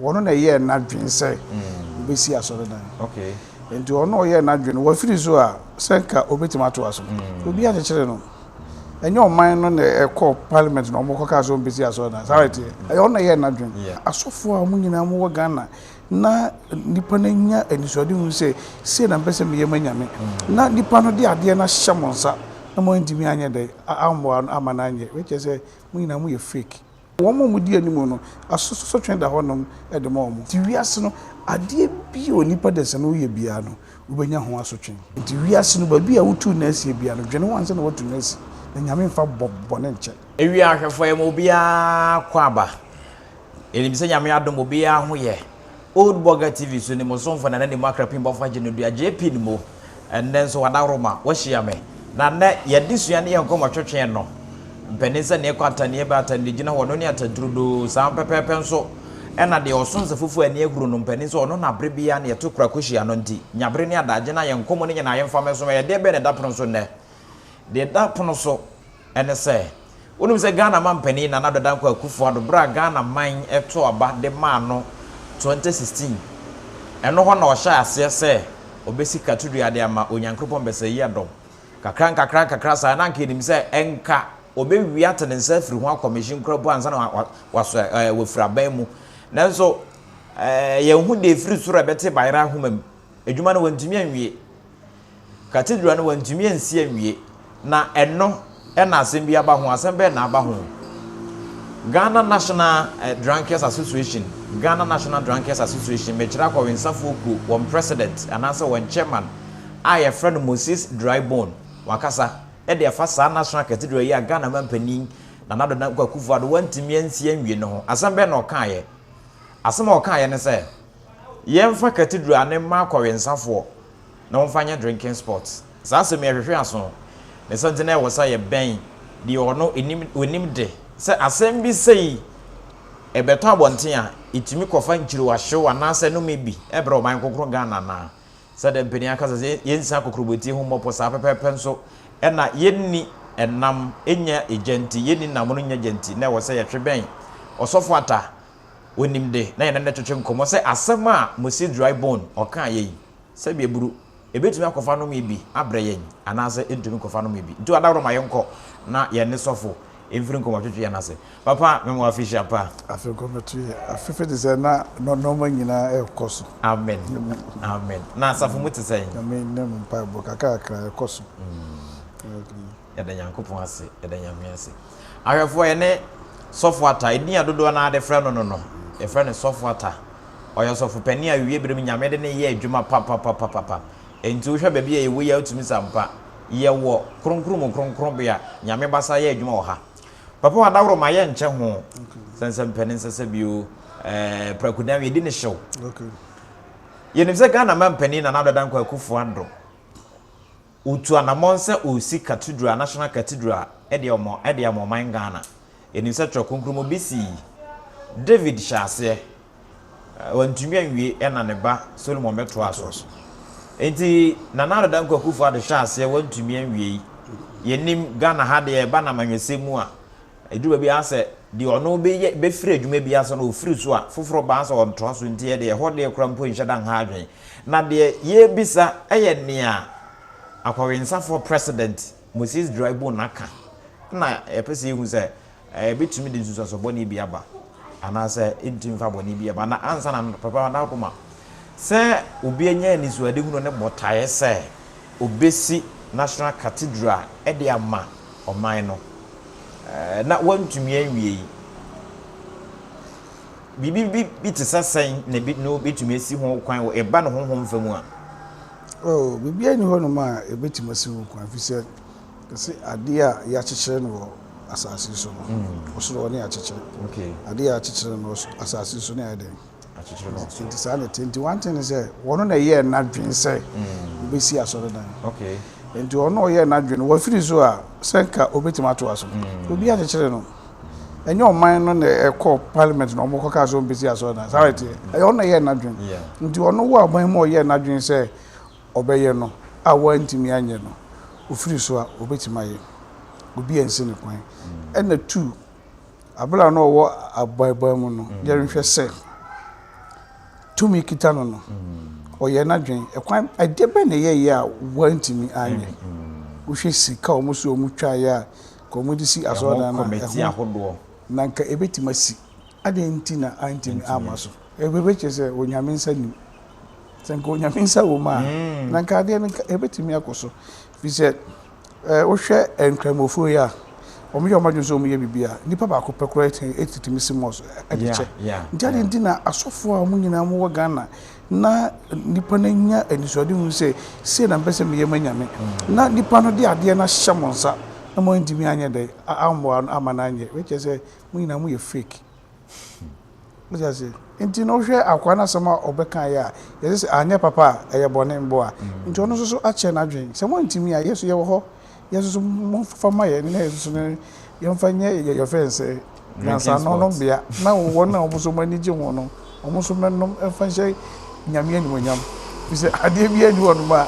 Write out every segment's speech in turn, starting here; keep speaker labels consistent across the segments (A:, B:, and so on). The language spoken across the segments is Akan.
A: Ɔno na ɛyɛɛ n'adwene sɛ ɔbɛsi asɔredan. Enti ɔno na ɔyɛɛ n'adwene no, wafiri so a, sɛ anka ɔbɛtumi atoa so. Obiara kyekyeree no. Ɛnyɛ ɔman no na ɛkɔɔ parliament na wɔkɔkaa sɛ wɔmpɛ si asɔredan. Saa ara ɛteɛ. Ɛyɛ ɔno na ɛyɛɛ n'adwene. Asɔfoɔ a wɔn nyinaa wɔwɔ Ghana, na nnipa no anya anisoadehunu sɛ, sei na mepɛ sɛ meyɛ ma Nyame. Na nnipa no de adeɛ no ahyɛ mo nsa na moantumi anyɛ dɛn? Ammoa no amma no anyɛ. Wei kyerɛ sɛ, mo nyinaa moyɛ fake. Wɔn a wɔdi anim no, asotwe da hɔnom de ma wɔn. Enti wiase no, adeɛ biara a onipa da nsa no woyɛ biara no, wobɛnya ho asotwe. Enti wiase no, baabi a wotu nna asie biara no, dwene ho ansa na woatu nna asi, na Nyame mfa bɔ bɔne nkyɛ. Ewia ahwɛfoɔ yɛ ma
B: obiara kɔ aba. Yɛnim sɛ Nyame adom obiara ho yɛ Old Burger TV so ne mo somfo na ne mu akrapin bɔfo agye no dua JP no mu. Ɛnnɛ nso wadaworo ma wahyia me. Na nnɛ yɛde sua ne yɛn nkɔmmɔ twetwe ɛno. Mpanin sɛ nea ɛkɔ ataniɛ ba ataniɛ gyina hɔ no ne atadurudoo saa ara pɛpɛɛpɛ nso na deɛ ɔsom sɛ fufuo a ani ahuru no mpanin sɛ ɔno na bere biara na yɛto kura kɔhyia no nti nyabere ne adaagye no a yɛn nkɔmmɔ no nyinaa yɛmfa mmɛso ma yɛn deɛ bɛn na ɛda pono so nnɛ? Deɛ ɛda pono so ne sɛ, wonim sɛ Ghana mampanin Nana Addo Dankwa Akufo-Addo berɛ a Ghana man too aba de maa no 2016, ɛno hɔ na ɔhyɛɛ aseɛ sɛ ɔbɛsi katodua de ama Onyankropɔn Bɛsɛeyi Adom. Kakra nkakra nkakra saa, na anka yɛnim sɛ ɛnka ɔbɛwie ate ne nsa afiri ho akɔ machine koraa mpo ansa na wasɔ ɛɛ wafiri aban mu. Nanso ɛɛ yɛnhu deɛ ɛfiri soro a ɛbɛte bayerɛ ahoma mu. Adwuma no wantumi anwie. Cathedral no wɔantumi ansi anwie, na ɛno na asɛm bi aba ho. Asɛm bɛn na aba ho? Ghana National eh, Drunkards Association, Ghana National Drunkards Association, mekyerɛ akɔwensafoɔ kuo, wɔn president anaasɛ wɔn chairman a yɛfrɛ no Moses Drybone, wakasa de afa saa National Cathedral yi a Ghana mampanin Nana Addo Dankwa Akufo-Addo wantumi ansi anwie no ho. Asɛm bɛn na ɔkaeɛ? Asɛm a ɔkaeɛ ne sɛ, yɛmfa cathedral no mma akɔwensafoɔ, na wɔmfa nyɛ drinking spot. Saa asɛm yi ɛhwehwe aso. Ne sɛ nti na ɛwɔ sɛ yɛ bɛn deɛ ɔno ɛnim ɔnim de sɛ asɛm bi sei ɛbɛtɔ abɔnten a ɛtumi kɔfa nkyirewa hyew anaa sɛ nome bi ɛbrɛ ɔman kronkron Ghana anaa sɛdeɛ mpanin aka sɛ sɛ yɛnsi akokorobɔtie ho mmɔpɔ saa pɛpɛɛpɛ nso ɛna yɛnni ɛnam ɛnya ɛgya nti yɛnni nam no nya gya nti na ɛwɔ sɛ yɛtwe bɛn ɔsɔfo ata onim de, na yɛne no retwetwe nkɔmmɔ sɛ asɛm a Mossie Dry Bone ɔkaeɛ yi, sɛ yɛburu, ɛbɛtumi akɔfa nome bi abrɛ yɛn anaasɛ ɛntumi nkɔfa nome bi. Nti ɔdaworo ma yɛnkɔ na yɛne sɔfo mfiri nkɔmmɔtwetwe yɛn ase. Papa, me mo afehyia pa. Afei nkɔmmɔtwe yɛn
A: afefe te sɛ na nnoɔma nyinaa rekɔ so. Amen.
B: Amen. Na asafo mu te sɛn? Nyame nne mu mpaebɔ
A: kakrakra ɛkɔ so.
B: Yɛda Nyankopɔn ase, yɛda Nyame ase. Ahwɛfoɔ yɛne Sɔfo Atta, edin a dodoɔ no ara de frɛ no no no, yɛfrɛ no Sɔfo Atta. Ɔyɛ ɔsɔfo panin a awiwie berɛ mu Nyame de no yɛ adwuma papapapapapa. Enti wohwɛ baabi a yɛwɔ yi a wotumi sɛ ampa yɛwɔ Kronkron mu Kronkronbea, Nyame basa yɛ adwuma wɔ ha. Papa Wadaworoma yɛnkyɛ ho, sɛnsɛm pɛ ne nsɛsɛ bio, eh, Prakudan yɛdi no hyew. Yɛnim sɛ Ghana mampanin Nana Ado Dankwa Akufo-Addo, Ɔretu anammɔn sɛ ɔresi Cathedral, National Cathedral de ama de ama ɔman Ghana. Yɛnim sɛ Twerɛ Kronkron mu ɔbɛsi yi. David hyɛɛ aseɛ, wantumi anwie na ne ba Solomon bɛtoaa so. Enti Nana Addo Dankwa Akuffo Addo hyɛɛ aseɛ wantumi anwie yi. Yɛnim Ghana ha deɛ ɛba no amanyɔsɛm mu a, ɛduru baabi a sɛ deɛ ɔno bɛyɛ bɛfiri adwuma bi ase no ɔfiri so a, foforɔ ba a sɛ ɔntoa so nti yɛdeɛ ɛhɔ deɛ koraa mpo nhyɛ da nha adwene. Na deɛ yɛrebisa yɛ nea akɔwensafoɔ President Moses Draibun aka na yɛpɛ sɛ yɛhu sɛ ɛbɛtumi de nsunsuansoɔ bɔne bi aba anaasɛ ɛntumi mfa bɔne bi aba. Na ansa na Papa Nako ma sɛ obi anya anisoadehunu ne botaeɛ sɛ ɔbɛsi National Cathedral de ama ɔman no na wantumi anwie yi. Biribi bi bi te sɛ sɛn na ebi no betumi asi ho kwan wɔ ɛba no honhom fam a? Oh,
A: biribiara nni hɔnom a ebetumi asi ho kwan, efisɛ kɛse ade a yɛakyekyere no wɔ asase so no, mm. ɔsoro hɔ ne yɛakyekyere. Okay. Ade a
B: yɛakyekyere no
A: wɔ asase so ne ayɛ dɛn? Akyekyere no ɔsoro. Nti saa na ɛte. Nti one thing sɛ wɔn na ɛyɛ n'adwene sɛ mm. obesi asɔredan. Okay. Nti
B: wɔn na ɔyɛ
A: n'adwene wɔfiri so a sɛ nka obetumi atoa so. Mm. Obi akyekyere no. ɛnyɛ ɔman no na ɛkɔ parliament na ɔmo kɔka sɛ ɔmpɛ si asɔredan saa na ɛteɛ ɛyɛ ɔno na ɛyɛɛ n'adwene nti ɔno wɔ aban mu a ɔyɛɛ n'adwene sɛ ɔbɛyɛ no a wantumi anyɛ no ofiri so a obetumi ayɛ obi ansi ne kwan ɛna tu abere a na ɔwɔ aban mu no yɛnhwɛ sɛ tumi kita no no ɔyɛ n'adwene ɛkwan ɛdeɛ bɛn na ɛyɛ yɛ a wantumi anyɛ wohwɛ sika a wɔn so wɔn twa yɛ a ɛho kɔmiti ahodoɔ.
B: Na anka ɛbɛtumi
A: asi. Adɛn nti na antumi amma so? Ɛbɛkyerɛ sɛ Onyame nsa nnim. Sɛ anka Onyame nsa wɔ mu a, na anka adeɛ no anka ɛbɛtumi akɔ so. Firi sɛ, wohwɛ Nkramofoɔ yi a, wɔyɛ wɔn adwene sɛ wɔyɛ biribi a, nipa baako pɛ koraa tumi si mɔɔs de kyɛ. Nti adɛn nti na asɔfoɔ a wɔn nyinaa wɔwɔ Ghana, Na nnipa no anya anisoadehu sɛ, Sei na mepɛ sɛ meyɛ mo anyame. Na nnipa no de adeɛ no ahyɛ mo nsa, na moantumi anyɛ dɛn, ammɔ ano amma no anyɛ. Wei kyerɛ sɛ, mo nyinaa moyɛ fake. Wote aseɛ? Nti no wohwɛ akoa no asɛm a ɔbɛkaeɛ a, yɛse sɛ anyɛ papa a, ɛyɛ bɔne mboa. Nti ɔno nso so akyɛre n'adwene. Sɛ moantumi a, yɛn nso yɛwɔ hɔ yɛn nso momfa mma yɛn na yɛn nso no yɛmfa nyɛ yɛfrɛ no sɛ nyansaano no bea na wɔn a wɔn nso wɔn ani gye ho no wɔn nso mɛnom mfa nhyɛ nyame animonyam sɛ adeɛ bi ani wɔnom a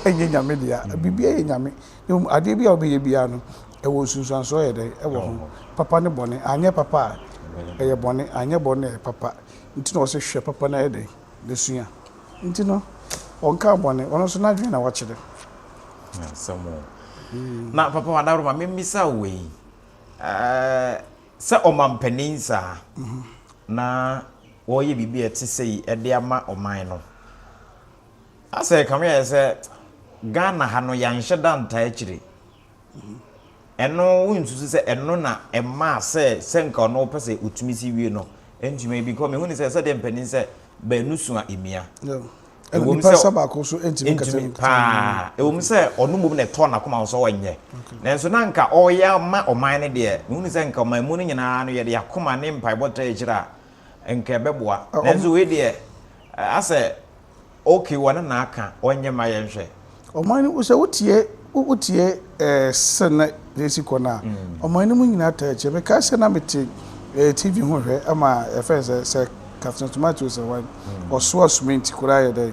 A: ɛnyɛ nyame dea biribi yɛ nyame na mmom adeɛ bi a wɔbɛyɛ biara no ɛwɔ nsunsuansoɔ yɛ dɛ ɛwɔ ho papa ne bɔne anyɛ papa a ɛyɛ bɔne anyɛ bɔne a ɛyɛ papa nti na wɔsɛ hwɛ papa no ayɛ dɛ besua. Nti no, ɔnkaa bɔne. Ɔno nso n'adwene na wakyerɛ. Asɛm
B: o. Na Papa Adaworoma, memmisa wo wei. Sɛ ɔmampanin saa, na wɔreyɛ biribi a ɛte sei de ama ɔman no, asɛ ɛkame ayɛ sɛ Ghana ha no, yɛanhyɛ da ntaa akyire. Ɛno, wonsusu sɛ ɛno na ɛmaa sɛ sɛ nka ɔno ɔpɛ sɛ ɔtumi si wie no, ɛntumi because mehu no sɛ sɛdeɛ mpanin sɛ baanu sua mmia. Ɛwɔ mu
A: sɛ baako so ɛntumi kasa mu paa. Ɛwɔ mu sɛ ɔno
B: mmom na ɛtɔɔ n'akoma so ɔnyɛ. Nanso na nka ɔreyɛ ama ɔman no deɛ, mehu no sɛ nka ɔman mu no nyinaa no yɛde akoma ne mpaebɔ tra akyire a, nka ɛbɛboa. Nanso wei deɛ, asɛ Ok wɔne na aka ɔnyɛ ma yɛn hwɛ. Ɔman no sɛ
A: wotie wotie sɛ na esi kɔ no a ɔman no mu nyinaa taa kyɛ me kae sɛ na me te TV ho hwɛ ama yɛfrɛ sɛ sɛ Captain Tomato sɛ wan ɔsoa sumenti koraa yɛ dɛn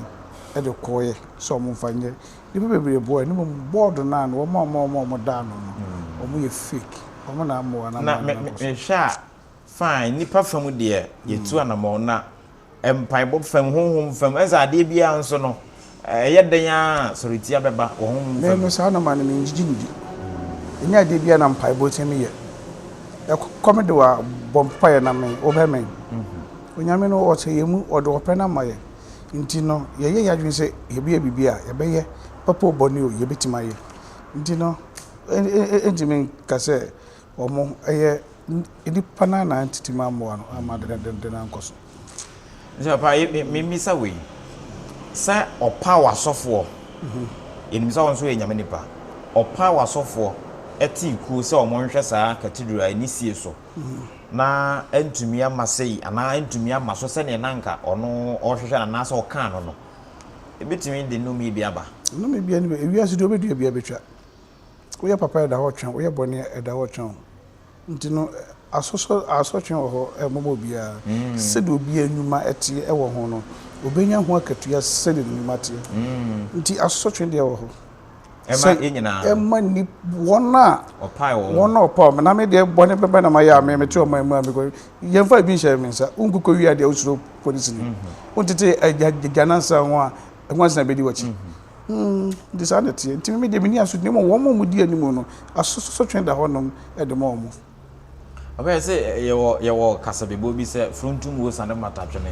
A: ɛde kɔ yɛ sɛ ɔmo nfa nyɛ nipa bebree boɔ yɛ ne mmom board no ano ɔmo a ɔmo a ɔmo a ɔmo da ano no ɔmo yɛ fake ɔmo na amoa na me me hwɛ a
B: fine nipa fa mu deɛ yɛ tu anamɔn na Mpaebɔ fam, honhom fam, ɛne sɛ adeɛ biara nso no, ɛyɛ dɛn ara a, sɔretia bɛba wɔ honhom fam. Me no, saa nɔma no, mengyigye
A: no di. Ɛnyɛ adeɛ biara na mpaebɔ tumi yɛ. Ɛkɔ me do a, bɔ mpaeɛ na me, wobɛmɛn. Onyame no, ɔte yɛn mu, ɔde ɔpɛ no ama yɛn. Nti no, yɛyɛ yɛn adwene sɛ yɛbɛyɛ biribi a, yɛbɛyɛ, papa o bɔne o, yɛbɛtumi ayɛ. Nti no, ɛntumi nka sɛ. Wɔyɛ nnipa no ara na antetem ammoa no amma ade no denden ankɔ so. Nti papa,
B: memmisa wei, sɛ ɔpaw asɔfoɔ, yɛnim sɛ wo nso woyɛ Nyame nipa, ɔpaw asɔfoɔ tee kuo sɛ wɔnhwɛ saa cathedral a ɛnni sie so na antumi amma sei anaa antumi amma so sɛdeɛ na anka ɔno ɔrehwehwɛ no anaasɛ ɔkaa no no, ɛbɛtumi de nnome bi aba? Nnome biara nni hɔ.
A: Ewiase deɛ ɔbɛdua biara bɛtwa. Woyɛ papa a, ɛda hɔ twɛn wo. Woyɛ bɔne a, ɛda hɔ twɛn wo. Nti no, asosɔ, asotwe wɔ hɔ ma obiara. Sɛdeɛ obiara nnwuma teɛ wɔ ho no, ɔbɛnya ho akatua sɛdeɛ ne nnwuma teɛ. Nti asotwe deɛ wɔ hɔ. Ɛma yɛn
B: nyinaa. Ɛma ni,
A: wɔn a. Ɔpae wɔn. Wɔn
B: a ɔpae wɔn. Na me deɛ
A: bɔne bɛbɛ na mayɛ a, me, mete ɔman mu a, me kɔ, yɛmfa ebi nhyɛ me nsa. Wonkokɔ wie adeɛ a, wosuro polisini. Wontete agya, agyanansa ho a, nwansa bɛdi w'akyi. Nti saa na ɛteɛ. Nti me deɛ menni asotwe na mmom wɔn a wɔdi anim no, asotwe da hɔnom de ma wɔn. Ɔkae sɛ,
B: Yɛwɔ yɛwɔ kasabebɔ bi sɛ, Frontum wo sane mmata twene.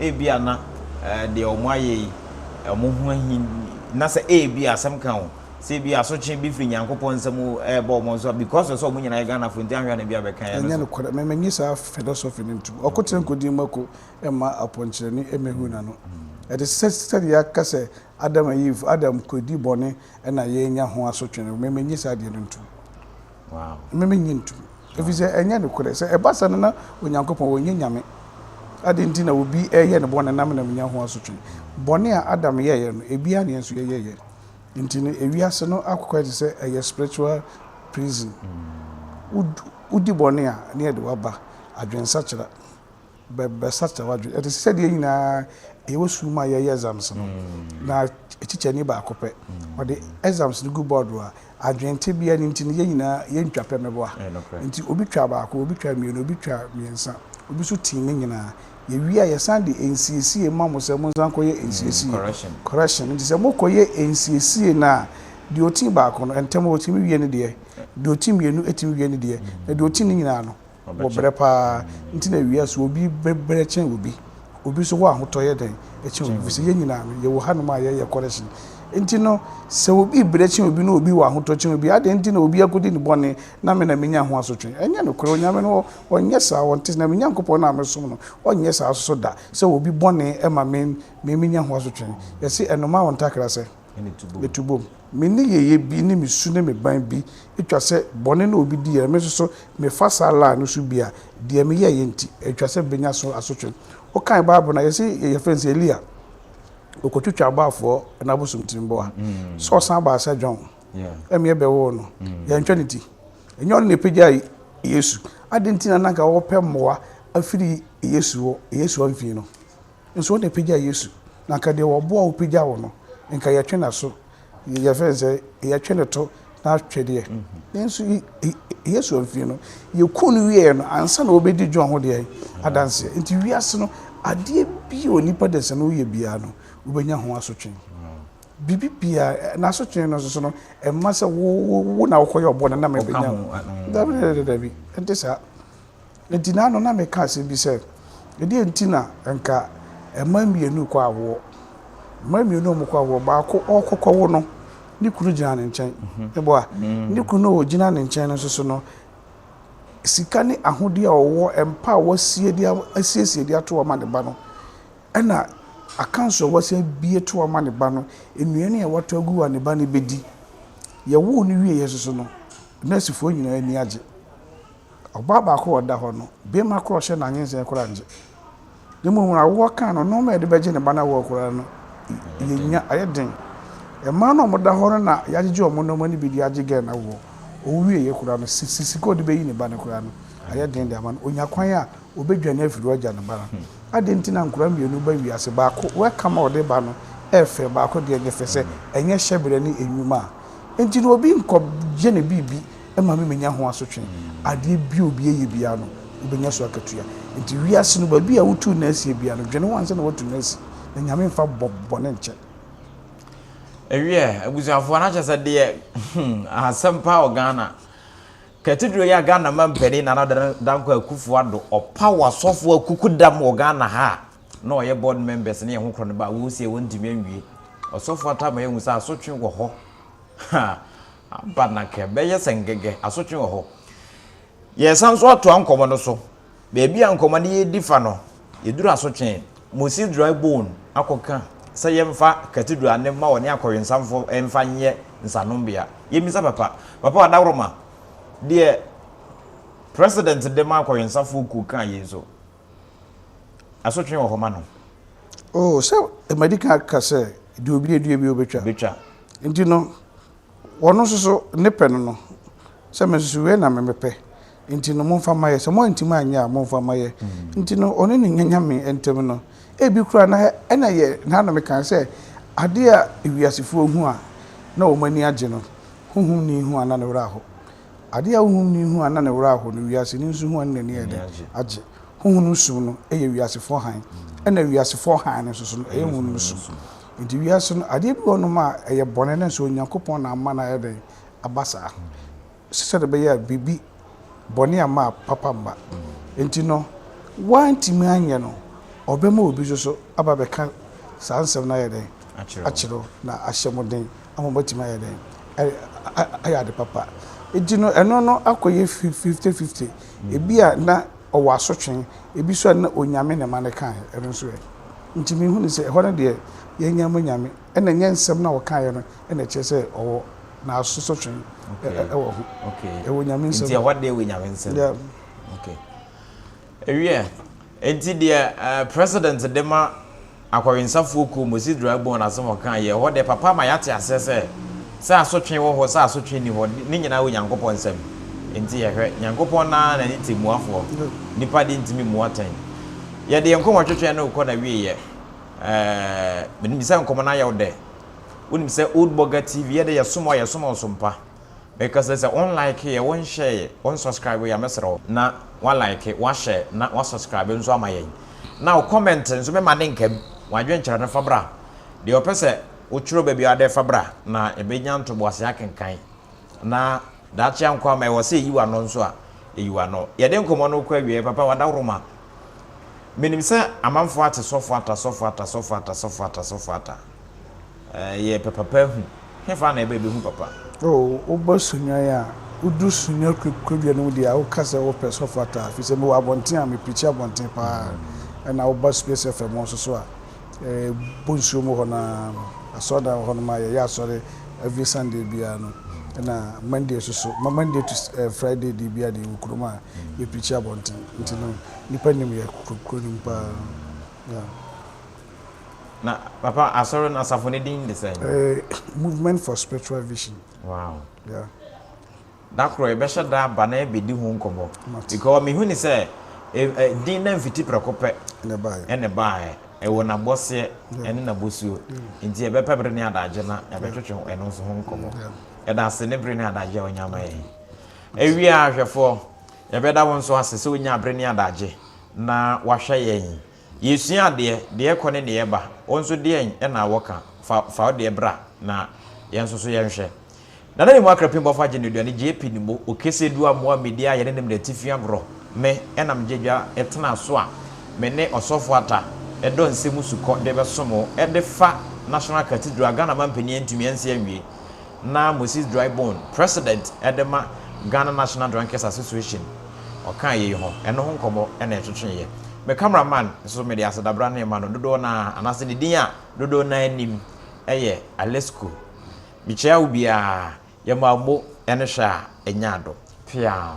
B: Ebia na deɛ wɔayɛ yi, wɔn ho ahi, na sɛ ebia asɛm ka wɔn, sɛ ebia asotwe bi firi Nyankopɔn nsam reba wɔn so a, because of sɛ wɔn nyinaa yɛ Ghanafoɔ nti, anhwɛ a na ebia bɛka yɛn nso. Ɛnyɛ nokorɛ. Mennye saa
A: philosophy no ntom. Ɔko tena nkodie mu ako. mma aponkyerɛni mmehu n'ano. Ɛte sɛ sɛdeɛ yɛaka sɛ Adam and Eve, Adam kɔdi bɔne na yɛanya ho asotwe no, me mennye saa adeɛ no ntom.
B: Me mennye ntom.
A: Ɛfiri sɛ ɛnyɛ nokorɛ. Sɛ ɛba saa no na Onyankopɔn ɔnyɛ Nyame. Adɛn nti na obi reyɛ no bɔne na me na menya ho asotwe? Bɔne a Adam yɛeɛ no, ebi ara na yɛn nso yɛyɛeɛ. Nti no ewiase no akokwaeɛ te sɛ ɛyɛ spiritual prison. Wodi bɔne a, na yɛde wo aba adwensakyera. bɛbɛsakyer w'adwen. Ɛte sɛ sɛ deɛ nyinaa ɛyɛ wo sukuu mu a yɛyɛ exams no, na kyikyɛni baako pɛ ɔde exams no gu board do a, adwen tebea no nti no yɛn nyinaa yɛntwa pɛ meboa. Nti obi twa baako, obi twa mmienu, obi twa mmiɛnsa, obi nso tii ne nyinaa. Yɛwie a yɛsan de nsiesie ma mo sɛ monsan nkɔyɛ nsiesie, correction. Nti sɛ mokɔyɛ nsiesie no a, deɛ ɔtii baako no ntɛm ɔtumi wie ne deɛ, deɛ ɔti mmienu tumi wie ne deɛ, na deɛ ɔti ne nyinaa no, wɔ brɛ paa nti na ewia so obi brɛ kyɛn obi obi nso hɔ ahotɔ yɛ dɛn ɛkyɛn obi fisɛ yɛn nyinaa no yɛwɔ hanom a yɛyɛ correction nti no sɛ obi brɛ kyɛn obi na obi wɔ ahotɔ kyɛn obi adɛn nti na obi akɔdi ne bɔne na me na menya ho asotwe ɛnyɛ nokorɛ onyame no ɔnyɛ saa ɔnte na me nyankopɔn no a mesom no ɔnyɛ saa nso so da sɛ obi bɔne ma me me menya ho asotwe yɛse ɛnoma wɔ ntakra sɛ me to bom. Me nneyɛeɛ bi ne me su ne me ban bi twa sɛ bɔne na obi diiɛ na me nso so mefa saa line no so bi a, deɛ meyɛeɛ nti, ɛtwa sɛ mebɛnya so asotwe. Wokan Bible no a, yɛse yɛfrɛ no sɛ Elia, ɔkɔtwitwaa abɔafoɔ no abosomtirimbɔa, sɛ ɔsan baa sɛ John ɛmeɛ bɛwoo no, yɛantwa ne ti. Ɛnyɛ ɔno na ɛpagyaa Yesu. Adɛn nti na na anka wɔpɛ mmoa afiri Yesu hɔ, Yesu amfii no? Nso wo na pagya yesu na anka deɛ ɔboa wo pagya wo no nka yɛtwe naso yɛfɛ nsɛ yɛtwe no to na twɛ deɛ nso yesu amfie no yɛku no wieɛ no ansa na wɔbɛdi john ho deɛ adanseɛ nti wiase no adeɛ bi a onipa de sɛ no woyɛ biara no wobɛnya ho asotwe biribi biara na asotwe no nso no ɛma sɛ wo na wokɔyɛ ɔbɔ no na mebɛnya ho dabi dabi nti saa Na gyina ano na meka asɛm bi sɛ, Ɛdeɛn nti na anka mmaa mmienu rekɔ awoɔ? Mmaa mmienu a wɔrekɔ awoɔ, baako ɔrekɔkɔwo no, ne kunu gyina ne nkyɛn. Meboa? Mhm. Mm. Ne kunu a ɔgyina ne nkyɛn no nso so no, sika ne ahodeɛ a ɔwɔ, mpa a wasie de a- asiesie de ato ama ne ba no, ɛna akanso a wasi abie to ama ne ba no, nnuane a watɔ agu a ne ba no bɛdi. Yɛwoo no wieeɛ nso so no, nɛɛsefoɔ nyinaa ani agye. Ɔbaa baako a ɔda hɔ no, beema koro a ɔhyɛ no anwensɛe koraa ngye. Na mmom wɔn awoɔ kaa no, nnoɔma a yɛde bɛgye ne ba no awoɔ koraa no, yɛnnya, ayɛ den. Mmaa no a wɔda hɔ no na yɛagyegye wɔn nnoɔma no bi de agye Gɛn awoɔ. Ɔwuwieeɛ koraa no, si, sika a ɔde bɛyi ne ba no koraa no, ayɛ den de ama no. Ɔnya kwan a, ɔbɛdwane afiri hɔ agya ne ba no. Adɛn nti na nkwadaa mmienu ba wiase, baako, welcome a ɔde ba no yɛ fɛ, baako deɛ, nyɛ fɛ, sɛ ɛnyɛ hyɛberɛ ne nnwuma a, enti na obi nkɔgye ne biribi. ɛma me menya ho asotwe. Adeɛ biara obi ɛyɛ biara no, wobɛnya so akatua. Nti wiase no, baabi a wotuu nna asie biara no, dwene ho ansa na woatu nna asi, na Nyame mfa bɔ bɔne nkyɛ.
B: Ɛwiɛ, abusuafoɔ, na kyerɛ sɛ deɛ hmm, asɛm paa wɔ Ghana. Katidro yi a Ghana mampanin Nana Dankwa Akufo Addo ɔpaw asɔfoɔ akukudam wɔ Ghana ha a na ɔyɛ board members ne ɛho korɔ no ba a, wɔresie wɔntumi anwie. Ɔsɔfoɔ Atta ama yɛahu sɛ asotwe wɔ hɔ. Ha! Ampa na ka ɛbɛyɛ sɛ ngɛgɛ, asotwe wɔ hɔ. Yɛresan nso atoa nkɔmmɔ no so. Baabi a nkɔmmɔ no redi fa no, yɛduru asotwe Moses Dry Bone akɔka sɛ yɛmfa Cathedral no mma wɔne akɔwensanfo mfa nyɛ nsanombea. Yɛmmisa Papa, Papa Ɔdawroma, deɛ President de ma akɔwensafoɔ kuo kaa yei nso, asotwe wɔ hɔ ma no. Oh,
A: sɛ madi kan aka sɛ, deɛ obi adua biara ɔbɛtwa. Bɛtwa. Nti no, Wɔno nso so ne pɛ no no, sɛ me nso so wei na me mepɛ, nti no momfa mma yɛ, sɛ moantumi anyɛ a momfa mma yɛ. Nti no ɔne ne nyanyame ntam no, ebi koraa na ɛna yɛ na na meka sɛ adeɛ a wiasefoɔ hu a na wɔn ani agye no, honhomni hu a na ne werɛ aho. Adeɛ a honhomni hu a na ne werɛ aho no, wiaseni nso hu a na n'ani yɛ dɛn? Agye. Honhom sum no yɛ wiasefoɔ hann, ɛna wiasefoɔ hann no nso so no, ɛyɛ honhom sum. Nti wiase no adeɛ bi wɔ hɔ nom a ɛyɛ bɔne nanso Onyankopɔn na ama no ayɛ dɛn? Aba saa. Sɛdeɛ ɛbɛyɛ a biribi, bɔne amma a papa mma. Nti no woantumi anyɛ no, ɔbɛma obi nso so aba abɛka saa nsɛm no ayɛ dɛn? Akyerɛ wo na ahyɛ mo den. a wɔbɛtumi ayɛ dɛn ayɛ ade papa. Enti no ɛno no akɔyɛ fifty fifty. Ebi a na ɔwɔ asotwe, ebi nso a na onyame ne ma no kae, ɛno nso ɛ? Nti mehu no sɛ ɛhɔ no deɛ yɛanya mu nyame, ɛna ɛnyɛ nsɛm no a ɔkaeɛ no na ɛkyerɛ sɛ ɔwɔ n'asotwe wɔ ho. Ɛwɔ nyame nsam.
B: Nti ɛhɔ
A: deɛ ɛwɔ nyame nsam.
B: Yeah. Okay. Wiɛ, enti deɛ President de ma akɔwensafoɔ kuo Moses Dragbon no asɛm a ɔkaa yɛ, ɛhɔ deɛ papa ama yɛate aseɛ sɛ, sɛ asotwe wɔ hɔ, sɛ asotwe nni hɔ, ne nyinaa wɔ Nyankopɔn nsam. Enti yɛhwɛ, Nyankopɔn no ara na ne temmuafoɔ, nnipa deɛ ntumi mmu atɛn. Yɛde yɛn nkɔmmɔtwetweɛ no rekɔ n'awieɛ. Ɛɛɛ, menim sɛ nkɔmmɔ no ayɛ wo dɛ. Wonim sɛ Old Bɔga TV, yɛn deɛ yɛsom wo a, yɛsom wo som pa. Because sɛ wo like yɛ, wo nhyɛɛ yɛ, wo nsɔskraibe yɛ a mɛsrɛ wo na wa like, wa hyɛɛ na wa sɔskraibe nso ama yɛn. Na wo comment nso me ma ne nka bi, wo adwenkyerɛ no fa bra, deɛ ɔpɛ sɛ wo twerɛ ba biara dɛ fa bra na yɛbɛ nya ntoboase akenkan na daakye ankɔ ama ɛwɔ sɛ yɛyi w'ano nso a yɛyi w'ano. Yɛde nkɔmmɔ no rekɔ awieɛ, papa w'adaworoma, menim sɛ amanfoɔ ate sɔfoata sɔfoata sɔfoata sɔfoata sɔfoata. Yɛ pɛ papa hu, hefa na ɛbɛ bɛhu papa? Oh, woba
A: Sunyani a, wodu Sunya kwadua no mu deɛ a, woka sɛ wopɛ sɛ ɔfa taa, firi sɛ mewɔ abɔnten a mepirikyi abɔnten pa ara, ɛna woba Space FM hɔ nso so a, ɛbɔ nsuo mu hɔ no ara no, asɔredan wɔ hɔnom a yɛyɛ asɔre every Sunday biara no, ɛna Monday nso so, Monday to Friday deɛ biara deɛ yɛwɔ kurom a yɛpirikyi abɔnten, nti no nnipa nim yɛ kuro no mu pa ara, yeah.
B: Na papa asɔre no asafo ne din de sɛn? Eh, Movement for
A: Spiritual Vision. Wow. Yeah. Da
B: koro yɛbɛhyɛ da aba na yɛbɛdi ho nkɔmmɔ. Because mehu ne sɛ din na mfiti prɛko pɛ ɛne baeɛ. Ɛwɔ n'abɔseɛ ɛne n'abɔsuo. Nti yɛbɛpɛ bere ne adagye na yɛbɛtwetwe ɛno nso ho nkɔmmɔ. Yɛda ase ne bere ne adagye a wonya ma yɛn. Awie a hwɛfoɔ, yɛbɛda wo nso ase sɛ wonya bere ne adagye na wahwɛ yɛn Yɛsua adeɛ, deɛ kɔ ne deɛ ba, wo nso deɛn na wɔka, fa fa wo deɛ bra na yɛn nso so yɛnhwɛ. Nana ne mu akrapin bɔfo agye no aduane gye epi ne mo, okese du amoa medi a yɛne ne mene atifi agorɔ, me ɛna megye dwa ɛtena so a me ne ɔsɔfo ata ɛdɔ nsɛm sukɔ de bɛsom wo ɛde fa National Cathedral a Ghana mampanin antumi ansi anwie. na Moses Drybone, President de ma Ghana National Drunkards Association, ɔkaa yei ho, ɛno ho nkɔmmɔ na yɛtwetweeɛ. Me camera man nso mede asedabra no rema no, dodoɔ no ara, anaasɛ ne din a dodoɔ no ara nim yɛ Alesco. Mekyia wo biara, yɛma wo mo ne hwɛ a ɛnya adɔ. Peaw!